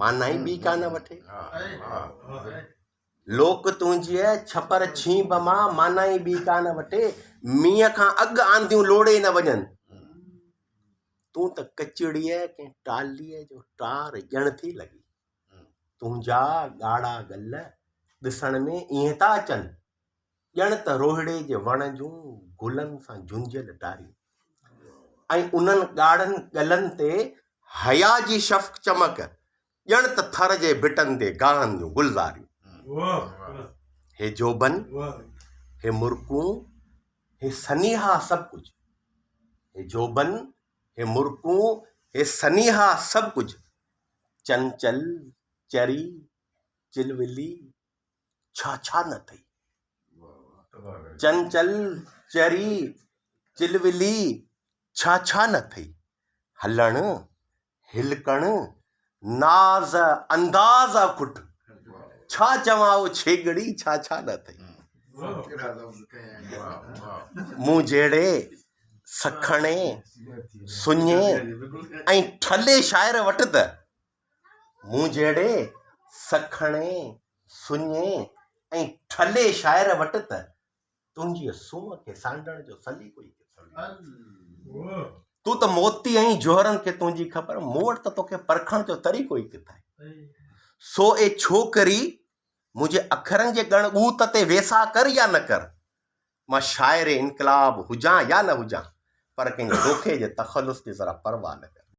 معنيٰ ئي ٻي ڪا نه وٺي. لوڪ تنهنجيء ڇپر ڇينڀ مان معنيٰ ئي ٻي ڪا نه وٺي. مينهن کان اڳ آنديون لوڙهي نه وڃن. تون ته ڪچڙيء ڪنهن ٽاليء جو ٽار ڄڻ ٿي لڳين. تنهنجا ڳاڙها ڳل ڏسڻ ۾ ائين ٿا اچن. ڄڻ ته روهڙي جي وڻ جون گلن سان جهنجهيل ٽاريون ۽ انهن ڳاڙهن ڳلن تي حيا جي شفق چمڪ ڄڻ ته ٿر جي ڀٽن تي گاهن جون گلزاريون. هي جوڀن، هي مرڪون، هي سنيها سڀ ڪجهه هي جوڀن، هي مرڪون، هي سنيها سڀ ڪجهه چنچل، چري، چلولي، ڇا ڇا نه اٿئي چنچل چري چلولي ڇا ڇا نه اٿئي هلڻ هلڪڻ ناز انداز اکٽ ڇا چوان او ڇيڳڙي ڇا ڇا نه اٿئي مون جهڙي سکڻي سڃي ۽ ٺلي شاعر وٽ ته مون جهڙي سکڻي، سڃي ۽ ٺلهي شاعر وٽ ته تنهنجيء سونهن کي سانڍڻ جو سليقو ئي ڪٿي آهي. تون ته موتي ۽ جوهرن کي تنهنجي خبر، مون وٽ ته توکي پرکڻ جو طريقو ئي ڪٿي آهي. سو اي ڇوڪري! منهنجي اکرن جي ڳڻ ڳوت تي ويساهه ڪر يا نه ڪر، مان شاعر انقلاب هجان يا نه هجان پر ڪنهن ڏوکي جي تخلص جي ذرا پرواهه نه ڪندس.